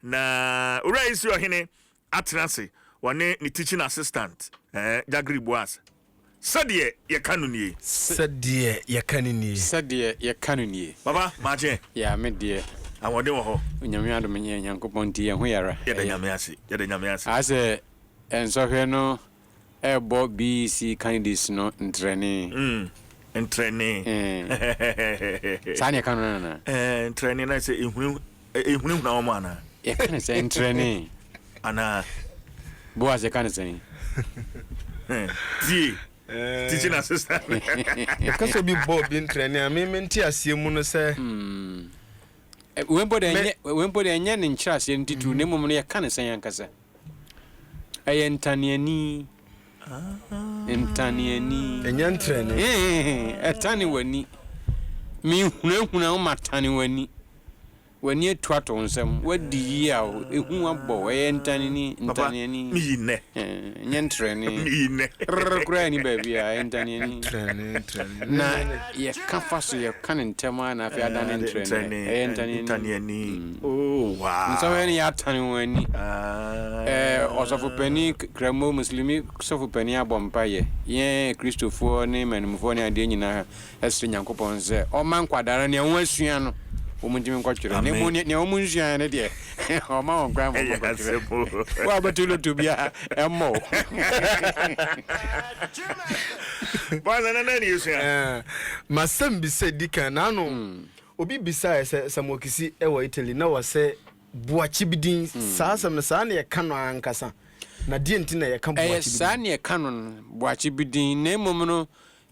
Na Owura Israel hene atena ase, ɔne ne teaching assistant, eh, Jagri Boaz. Sɛdeɛ yɛka no nie. Se. Sɛdeɛ yɛka no nie. Sɛdeɛ yɛka no nie. Papa, m'agye. Ya, me deɛ. Ahoɔden wɔ hɔ. Onyame adom nyɛ Nyankopɔn nti yɛn ho yɛ ara. Yɛda Nyame ase, yɛda Nyame ase. Aasɛ, nsɔhwɛ no. rebɔ BEC candidates no ntrɛnee. Mm, ntrɛnee. Ee. Saa na yɛka no no anaa? Ee, ntrɛnee na sɛ ehuni ehunahuna wɔn anaa? Yɛka no sɛ ntrɛnee. Anaa. Boaz yɛka no sɛn? Tie, teaching assistant. Yɛka sɛ obi bɔ obi ntrɛnee a, me me nteaseɛ mu no sɛ. Mm. Wei mpo deɛ ɛnyɛ wei mpo deɛ ɛnyɛ ne nkyerɛaseɛ no titiriw na mmom no yɛka no sɛn ankasa? Ɛyɛ ntaneani, ntaneani. Ɛnyɛ ntrɛni. Ɛtane w'ani. Menhunahuna wo ma tane w'ani. W'ani atu ato nsam. W'adi yea o, ehu abɔ wo. Ɛyɛ ntaneani, ntaneani. Papa, meyi nnɛ. Ɛnyɛ ntrɛni. Meyi nnɛ. Rrr koraa nni baabi a, ɛyɛ ntaneani. Ntrɛni, ntrɛni. Na yɛka fa so, yɛka no ntɛm ara na afei adane ntrɛni. Ɛyɛ ntaneani. Oh wow. Nsɔhwɛ no yɛatane wɔn ani. Eh, ɔsɔfopanin, Kramo Muslimi sɔfopanin abɔ mpaeɛ. Yɛn Kristofoɔ ne mmanimfoɔ ne adeɛ nyinaa ɛsrɛ Nyankopɔn sɛ ɔmma nkwadaa no nea wɔasua no wɔn ntumi nkɔtwerɛ. Na mmom nea wɔn nsuaeɛ no deɛ ɔma wɔn kwan ma wɔn nkɔtwerɛ. Wo a bɛto loto biara ɛmmɔ wo. Bɔn sɛ na na ni esua. Masɛm bi sɛ di kan n'ano. Obi bisaeɛ sɛ, Sammuokisi wɔ Italy? Na ɔse, Buakyibidin, saa asɛm no, saa na yɛka no ara ankasa. Na deɛn nti na yɛka Ɛyɛ buakyibidin? saa na yɛka no no, Buakyibidin, na mmom no,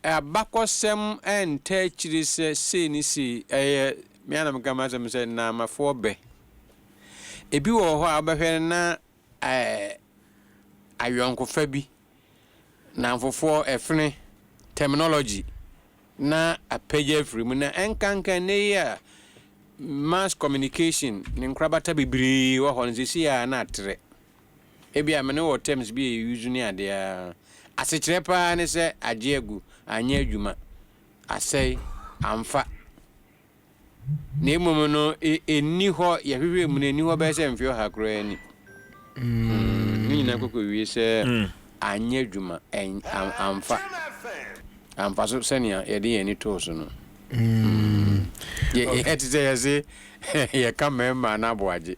abakɔsɛm ntaa akyire sɛ sei ne sei. Ɛyɛ, me ara na meka m'asɛm sɛ, Nnaamafoɔ bɛ. Ebi wɔ hɔ a wobɛhwɛ no na ɛɛ ayɔnkofa bi nnamfofoɔ ɛfene, terminology, na apagya afiri mu na ɛnkanka nnɛ yi a mass communication ne nkorabata bebree wɔ hɔ no seesei a na atrɛ. Ebi a me ne wɔ terms bi a yɛ use ne adeɛ a asekyerɛ paa ne sɛ agye agu, anyɛ adwuma, asɛe, amfa. Na mmom no, enni hɔ, yɛhwehwɛɛ mu no, enni hɔ bɛyɛ sɛ mfe ɔha koraa ni. Hmm, ne nyinaa kɔkɔwie sɛ anyɛ adwuma, amfa, amfa so sɛnea yɛde yɛn ani too so no. Hmm, ɛte sɛ yɛse yɛka mmarima no aboagye.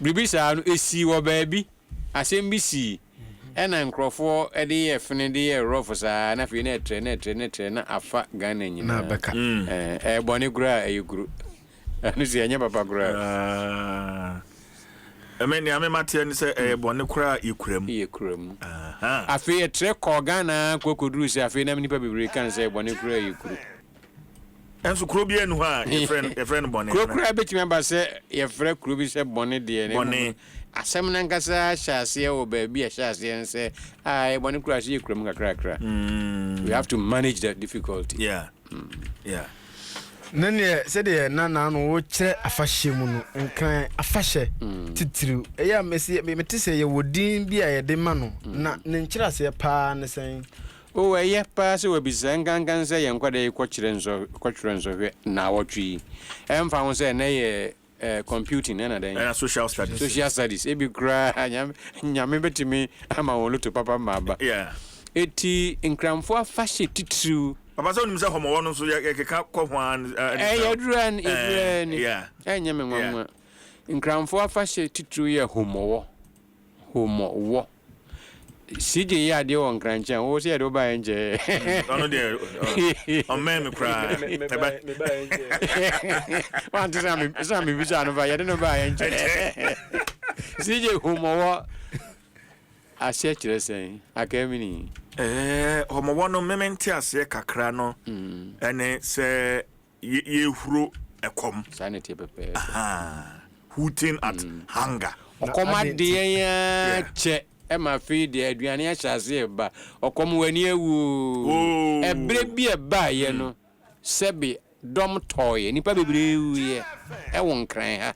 Biribi saa no, esii wɔ baabi, asɛm bi sii. Ɛna nkorɔfoɔ de yɛ fene de yɛ rɔfo saa na afei na ɛtrɛ na ɛtrɛ na ɛtrɛ na afa Ghana nyinaa. Ɛyɛ bɔne koraa ɛyɛ kuro ɛno si ɛnyɛ papa koraa. Ɛmɛ nea me mateɛ ne sɛ ɛyɛ bɔne koraa yɛ kura mu. Yɛ kura mu. Afei ɛtrɛ kɔɔ Ghana kɔ kɔduru sɛ afei na nipa bebree kan sɛ ɛyɛ bɔne koraa yɛ kuro. Nanso kuro biara nni hɔ a yɛfrɛ no yɛfrɛ no bɔne. Kuro koraa bɛtumi aba sɛ yɛfrɛ kuro bi sɛ bɔne deɛ. Na mmom asɛm no ankasa hyɛ aseɛ wɔ baabi a ɛhyɛ aseɛ no sɛ a ɛyɛ bɔne koraa sɛ yɛkura mu kakrakra. We have to manage the difficulty. Yeah. Yeah. Ne neɛ sɛdeɛ na naano wokyerɛ afahyɛ mu no nkran afahyɛ mm. titiriw ɛyɛ a mete sɛ yɛwɔ din bi a yɛde ma no mm. na ne nkyerɛaseɛ paa ne sɛn O, ɛyɛ paa sɛ wɔabisa nkankan sɛ yɛn nkwadaa yi kɔkyerɛ nsɔ, kɔtwerɛ nsɔhwɛ nnawɔtwe yi, ɛmfa ho sɛ ɛnnɛ yɛ eh, computing ɛna dɛn? Ɛna social studies. Social studies. Ebi koraa nyame, nyame bɛtumi ama wɔn loto papa ma aba. Yeah. Eti nkramfo afahyɛ titiriw. Papa sɛ wonim sɛ hɔmɔwɔ no nso yɛkeka kɔ ho ara ne eh, saa. Yɛdura ni, yɛdura ni. Yeah. Ɛnyɛ me nwanwa. Yeah. Nkramfo afahyɛ titiriw yɛ homɔwɔ. Home mo wɔ. CJ yɛ adeɛ wɔ nkrankye a wo sɛ yɛde wo baeɛ nkyɛɛ. Mm, ɔno deɛ ɔmmɛn me koraa. Wante sɛ me sɛ me bisa no fa yɛde no baeɛ nkyɛɛ. CJ home wɔ aseɛ kyerɛ sɛn akamini. Ɛɛ home wɔ no meme nte aseɛ kakra no ɛne mm. sɛ yɛhuro ɛkɔm. Saa na ɛteɛ pɛpɛɛpɛ. Hooting at hunger. Ɔkɔm ade yɛn ara kyɛ ma afei deɛ aduane ahyɛ aseɛ reba. Ɔkɔm w'ani awu oo. Ɛberɛ bi a ɛbaeɛ no, sɛbe dɔm tɔeɛ, nnipa bebree wuiɛ wɔ Nkran ha.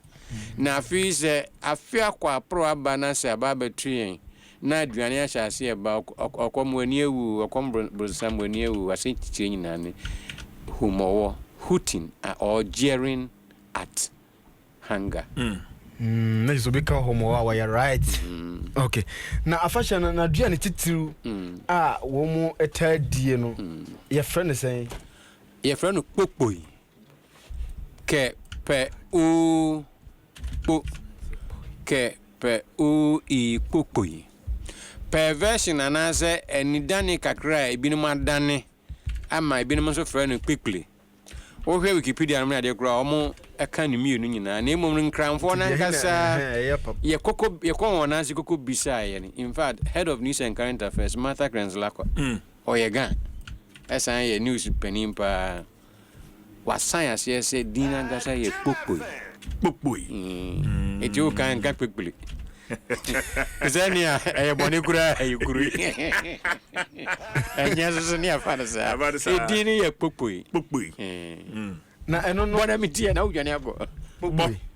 Na afei sɛ afe akɔ aporo aba na sɛ aba abɛto yɛn Na aduane ahyɛ ase ɛba, ɔkɔm, mo ani awu, ɔkɔm bronsam, mo ani awu, asɛntitire nyinaa ne hum, ɔwɔ, hooting or jeering at hunger. Mm, na kyerɛ sɛ obi ka hum ɔwɔ a, wɔyɛ right. Okay. Na afahyɛ no, n'aduane titiriw a wɔn taa die no, yɛfrɛ no sɛn? Yɛfrɛ no kpokpoi, kɛ, pɛ, oo, Kpo kɛ pɛ oo ii kpo kpoi. Perversion anaasɛ anidane kakra a ebinom adane ama ebinom nso frɛ no kpekple. Wohwɛ Wikipedia nom ne adeɛ koraa a, wɔka ne mmienu nyinaa na mmom no Nkranfoɔ no ankasa yɛ koko yɛ kɔɔ wɔn nan ase koko bisaa yɛn. In fact, Head of News and Current Affairs, Martha Krentz-Lackwa, ɔyɛ Gha ɛsan yɛ news panin paa. Wɔasan aseɛ sɛ din no ankasa yɛ Kpokpoi. Kpokpoi. Enti wo kan nka Kpekpiri. Te sɛ nea ɛyɛ bɔne koraa ɛyɛ kuro yi. Ɛnyɛ nso so ne afa no saa. Edin no yɛ Kpokpoi. Kpokpoi. Na ɛno no. Bɔ na metie na wodwane akɔ. Kpokpoi.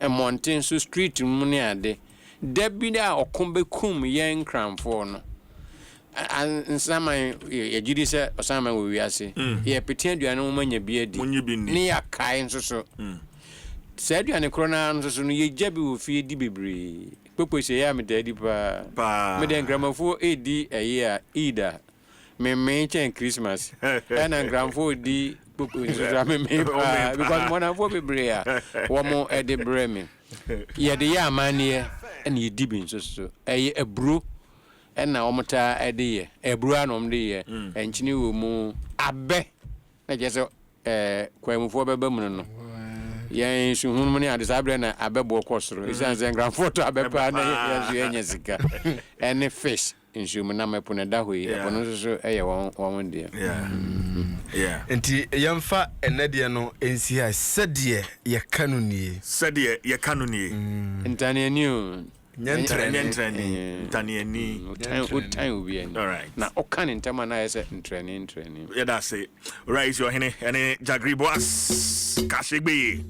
mmɔnten so street no mu ne ade. Da bi a ɔko bɛkum yɛn Nkranfoɔ no, Nsaman yɛgye di sɛ ɔsan ma wɔ wiase. Yɛrepete aduane wɔn anya bi adi ne yɛakae nso so. Saa aduane korɔ no ara nso so no yɛgya bi wɔ fie di bebree. Kpokpose yɛ a metaa di pa ara. Meda Nkramafoɔ redi ɛyɛ a, Eid a. memee kyɛn Christmas. Ɛna nkranfoɔ di kpokpo nso so a memee paa because mɔnamfoɔ bebree a wɔn de brɛ me. Yɛde yɛ amanneɛ ɛna yɛdi bi nso so. Ɛyɛ aburo ɛna wɔn taa de yɛ. Aburo ara na wɔn de yɛ. Nkyene wɔ mu, abɛ na kyerɛ sɛ ɛɛ kwaemufoɔ bɛba mu no no. Yɛn nsu hunu mu ne ade saa berɛ na abɛ boɔ kɔ soro. Ɛsiane sɛ nkranfoɔ tɔ abɛ paa na yɛn nso yɛnya sika. Ɛne fish. nsuo mu nam ɛpo na ɛda hɔ yi ɛpo no nso so yɛ wɔn wɔn deɛ. Yeah. Nti yɛmfa ɛnɛ deɛ no nsi ha sɛdeɛ yɛka no nie. Sɛdeɛ yɛka no nie. Ntaneani o. Nyɛ ntrani. Nyɛ ntrani. Ntaneani. Wotan wotan obi ani. Alright. Na ɔka ne ntɛm a na ayɛ sɛ ntrani ntrani. Yɛda ase. Owura Isi Ɔhene ɛne Jagri Boas Kashegbeye.